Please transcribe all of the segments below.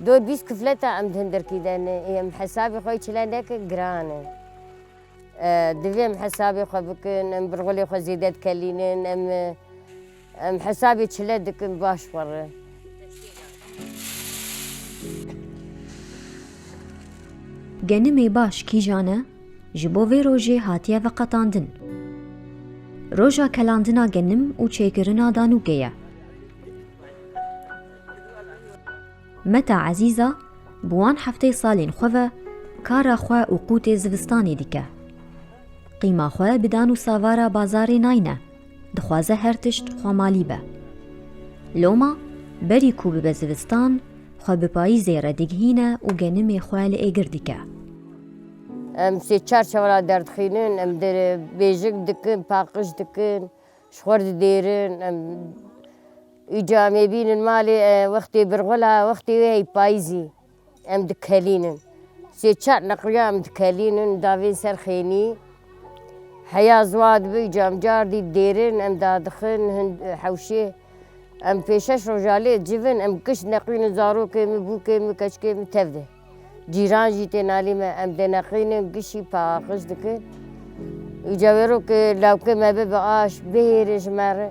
Dor bîst kifleta em hundirkî de ne ê em hesabê xwe çile nekin giran e. Divê em hesabê xwe bikin, em birgulê xwe zêde dikelînin, em em hesabê çile dikin baş xwe re. Genimê baş kîjan e? Ji bo vê rojê hatiye veqetandin. Roja kelandina genim û çêkirina danûkê ye. Meta Ezîza bi wan hefteyê salên xwe ve kara xwe û qûtê zivistanê dike. Qîma xwe bi dan û savara bazarê nayne. Dixwaze her tişt xwemalî be. Loma berî ku bibe zivistan, xwe bi payîzê re digihîne û genimê xwe li êgir dike. Em sê çar çewra derdixînin, em bêjik dikin, paqij dikin, ji xwe re didêrin. Em îca em ê bînin malê wextê birxwila, wextê wê hey payîzî. Em dikelînin. Sê çar neqliya em dikelînin davên ser xênî. Heya ziwa dibe cam car dî dêrin em dadixin hin hewşê. Em pê şeş roja lê civ in em kişt neqlînin zarokê min, bûkê min, keçikê min tev de. Cîran jî tên alî me em dê neqlînin gişî paqij dikin. Îca wêro ke lawkê me bibe aş bihêrin ji me re.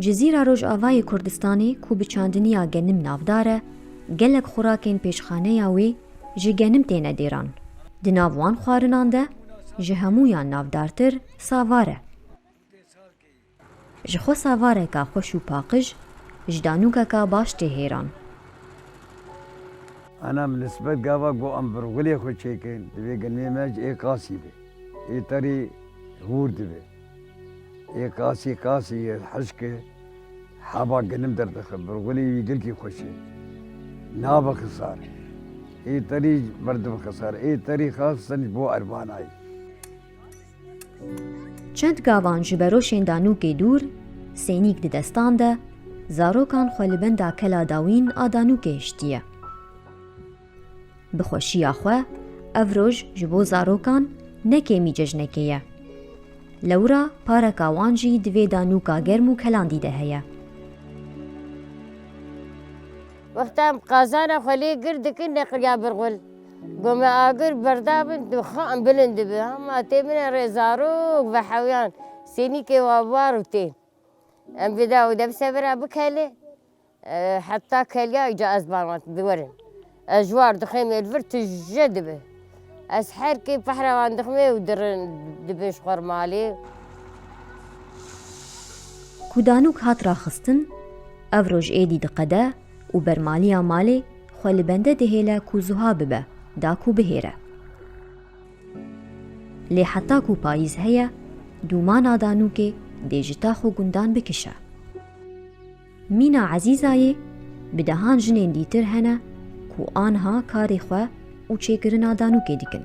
Cizîra Rojavayê Kurdistanê ku bi çandiniya genim navdar e, gelek xorakên pêşxaneya wê ji genim têne dêran. Di nav wan xwarinan de ji hemûyan navdartir savar e. Ji xwe savareka xweş û paqij, ji danûkeka baş tê hêran. Ana bi nisbet gava ku em birgulê xwe çêkin, divê genimê me ji ê qasî be, ê terê hûr dibe. Yê kasî kasî yê hişkê heva ginim derdixe, burxulî yê girkî xweş e. Nabe xisar. Ê terî merdim xisar. Ê terî xas sinc bo ervanayî. Çend gavan ji beroşên Danûkê dûr, sênîk di destan de, zarokan xwe li benda kela dawîn a Danûkê hiştiye. Bi xweşiya xwe ev roj ji bo zarokan ne kêmî cejnekê ye. Lewra pareka wan jî di vê danûka germ û kelandî de heye. Wexta em qazana xwe lê gir dikin neqiliya bir xul. Got me agir berda bin tu xan bilind dibi. Ma tê min e rê zarok ve hewyan sênîkê wan war û tên. Em bi dawî de bi sebira bikelê. Heta keliya îca ez barand bi were. Ez ji war dixêmê li vir tije dibe. Ez her kê pehrevan dixêmê û dirin dibe ji xwe re malê. Ku danûk hat raxistin, ev roj êdî diqede û bermaliya malê xwe li bende dihêle ku zuha bibe da ku bihêre. Lê heta ku payîz heye, dûmana danûkê dê ji tax û gundan bikişe. Mîna Ezîzayê bi dehan jinên dîtir hene ku anha karê xwe û çêkirina danûkê dikin.